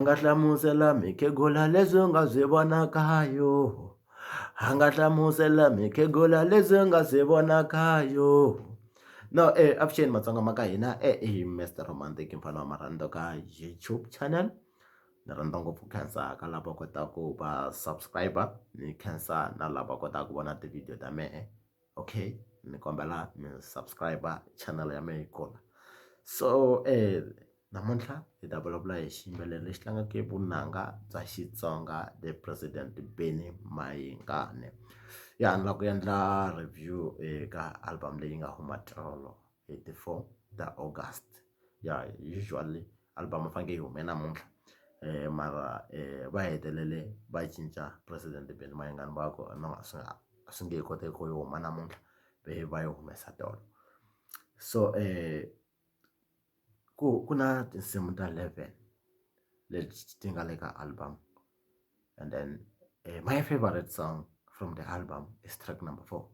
A nga hlamusela mukhegula leswi u nga byi vonaka ha yona a nga hlamusela mukhegula leswi u nga byi vonaka ha yona no e avuxeni matsonga ma ka hina e i Mister Romantic mfana wa marhandu ka YouTube channel ni rhandza ngopfu ku khensa ka lava kotaka ku va subscriber ni khensa na lava kotaka ku vona tivhidiyo ta mehe. okay ni kombela mi subscribe channel ya mina yi kula so namuntlha hi ta vulavula hi xiyimbeleri lexi tlangaka vunanga bya Xitsonga the president Benny Mayengani ya ni lava ku endla review eka album leyi nga huma tolo. 84 ta August ya usually album yi fanekele yi hume namuntlha um mara um va hetelele va cinca president Benny Mayengani va ku no a swi nga a swi nge he koteki ku yi huma namuntlha ve va yi humesa tolo so um ku ku na tinsimu ta 11 leti ti nga le ka album and then uh, my favorite song from the album is track number four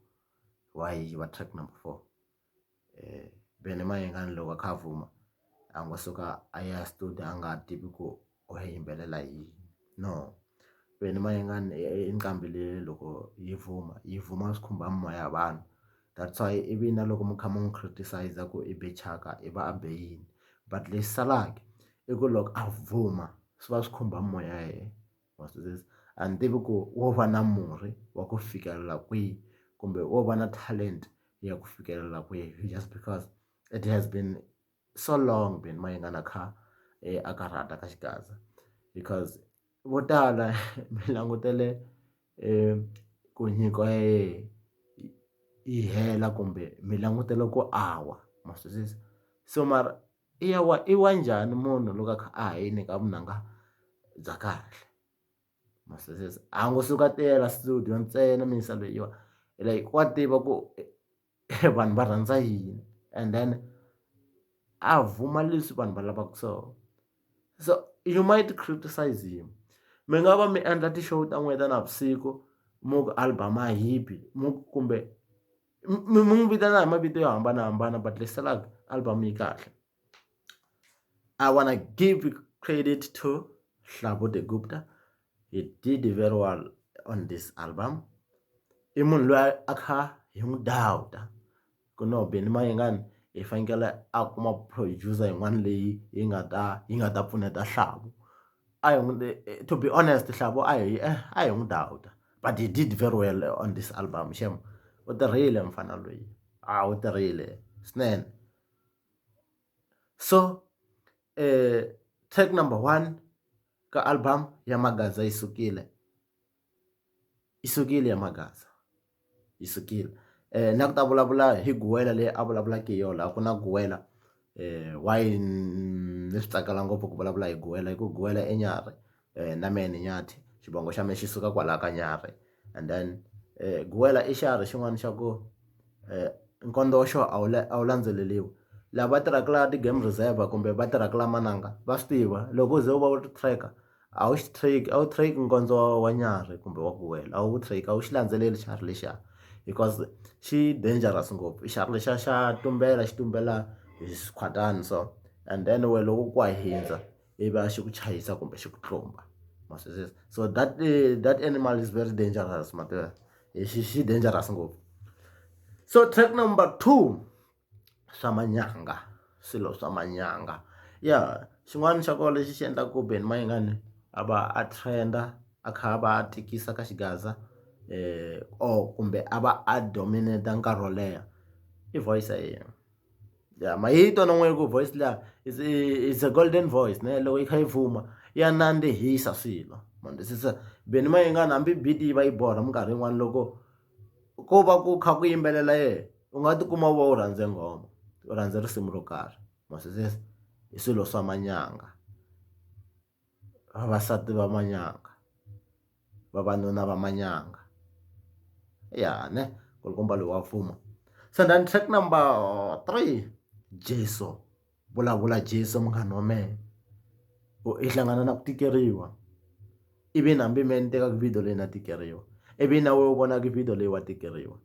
why va track number four um vene mayengani loko a kha a vuma a ngo suka a ya studio a nga tivi ku u ya yimbelela yini no vene mayengani i nqambi leyi loko yi vuma yi vuma swi khumba mimoya ya vanhu that's why ivi na loko mi kha mi n'wi criticize ku i be thyaka i va a be yini but lexi salaka i ku loko a vuma swi va swi khumba mimoya ya yena. ma swi twisisa a ni tivi ku wo va na murhi wa ku fikelela kwihi kumbe wo va na talent ya ku fikelela kwihi just because it has been so long been mayengana kha a karhata ka xigaza because vo tala mi langutele ku nyiko ya yena yi hela kumbe mi langutele ku a wa ma swi twisisa so mara. i ya wa i wa njhani munhu loko a kha a ha yini ka vunanga bya kahle ma swi twisisa a ngo suka a tiyela studio ntsena mixo leyiwa like wa tiva ku vanhu va rhandza yini and then a vuma leswi vanhu va lavaka swona so you might criticise him mi nga va mi endla ti-show ta n'wina ta navusiku mi ku album a yi bi kumbe. mi n'wi vitana hi mavito yo hambanahambana but leswi salaka album yi kahle I wanna give credit to Hlavu the Gupta he did very well on this album i munhu loyi a kha hi n'wi dowuta ku no Benny Mayengani hi fanekele a kuma producer yin'wana leyi yi nga ta yi nga ta pfuneta Hlavu. a hi n'wi to be honest Hlavo a hi a hi n'wi downer but he did very well on this album xem u tirhile mufana loyi a wu tirhile swinene so track number one ka album ya Magaza yi sukile. i sukile ya mhakaza yi sukile na ku ta vulavula hi guwela leyi a vulavulaka hi yona laha ku na guwela why ni swi tsakela ngopfu ku vulavula hi guwela hi ku guwela i nyarhi na mehe ni nyathi xivongo xa mina xi suka kwalaya ka nyarhi and then guwela i xiharhi xin'wana xa ku nkondo wa xona a wu a wu landzeleriwi lava tirhaka laha ti-game reserve kumbe va tirhaka laha mananga va swi tiva loko u ze u va u ri tracker. a wu xi track a wu track nkondzo wa nyarhi kumbe wa ku wela a wu track a wu xi landzeleli xiharhi lexiya because xi dangerous ngopfu xiharhi lexiya xa tumbela xi tumbela hi swikhwatani so and then we loko ku wa hindza i va xi ku chayisa kumbe xi ku tlumba ma swi twisisa so that eh, that animal is very dangerous ma tiva xi xi dangerous ngopfu so track number two swa manyanga swilo swa manyanga ya xin'wana xa kona lexi xi endlaka ku Benny Mayengani a va a trend-a a kha a va a tikisa ka xigaza or kumbe a va a dominate nkarhi wo leha i voice ya yena ya ma yi twa na n'we ku voice liya is is a golden voice ne loko yi kha yi fuma ya nandzihisa swilo ma twisisa Benny Mayengani hambi beat yi va yi borha minkarhi yin'wani loko. ko va ku kha ku yimbelela yena u nga tikuma u va u rhandze nghoma u rhandza risimu ro karhi mara sweswo i swilo swa manyanga vavasati va manyanga vavanuna va manyanga ya ne nkulukumba loyi wa fuma se then track number three Jeso. Vulavula Jesu munghana wa mehe ku i hlangana na ku tikeriwa ivi na hambi mehe ni tekaka video leyi na tikeriwa ivi na wena u vonaka video leyi wa tikeriwa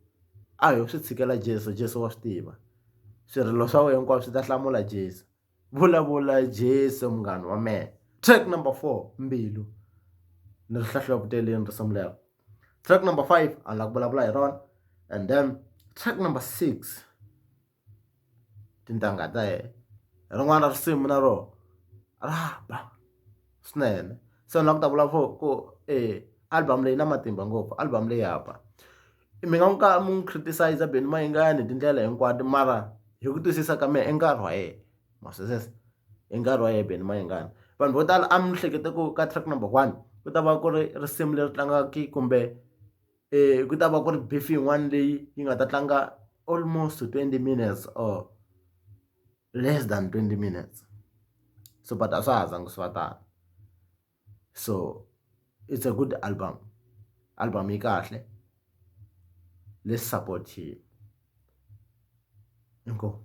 a ho swi tshikela Jeso Jeso wa swi tiva swirilo swa wena hinkwaswo swi ta hlamula Jeso vulavula Jeso munghana wa mehe track number four mbilu ni ri hlahluva ku teleni risimu lero track number five a ni la ku vulavula hi rona and then track number six. tintangha ta yena rin'wana risimu na rona ra ba swinene se ni lava ku ta vulavula for ku e album leyi na matimba ngopfu album leyi ya ba mi nga n'wi ka mi n'wi criticize Benny Mayengani hi tindlela hinkwato mara hi ku twisisa ka mehe i nkarhi wa yena ma swi twisisa i nkarhi wa yena Benny Mayengani vanhu vo tala a mi hleketa ku ka track number one ku ta va ku ri risimu leri tlangaka kumbe. um ku ta va ku ri beef yin'wana leyi yi nga ta tlanga almost twenty minutes or less than twenty minutes so but a swa ha zanga swi va tano so it's a good album album yi kahle let's support him inkomu.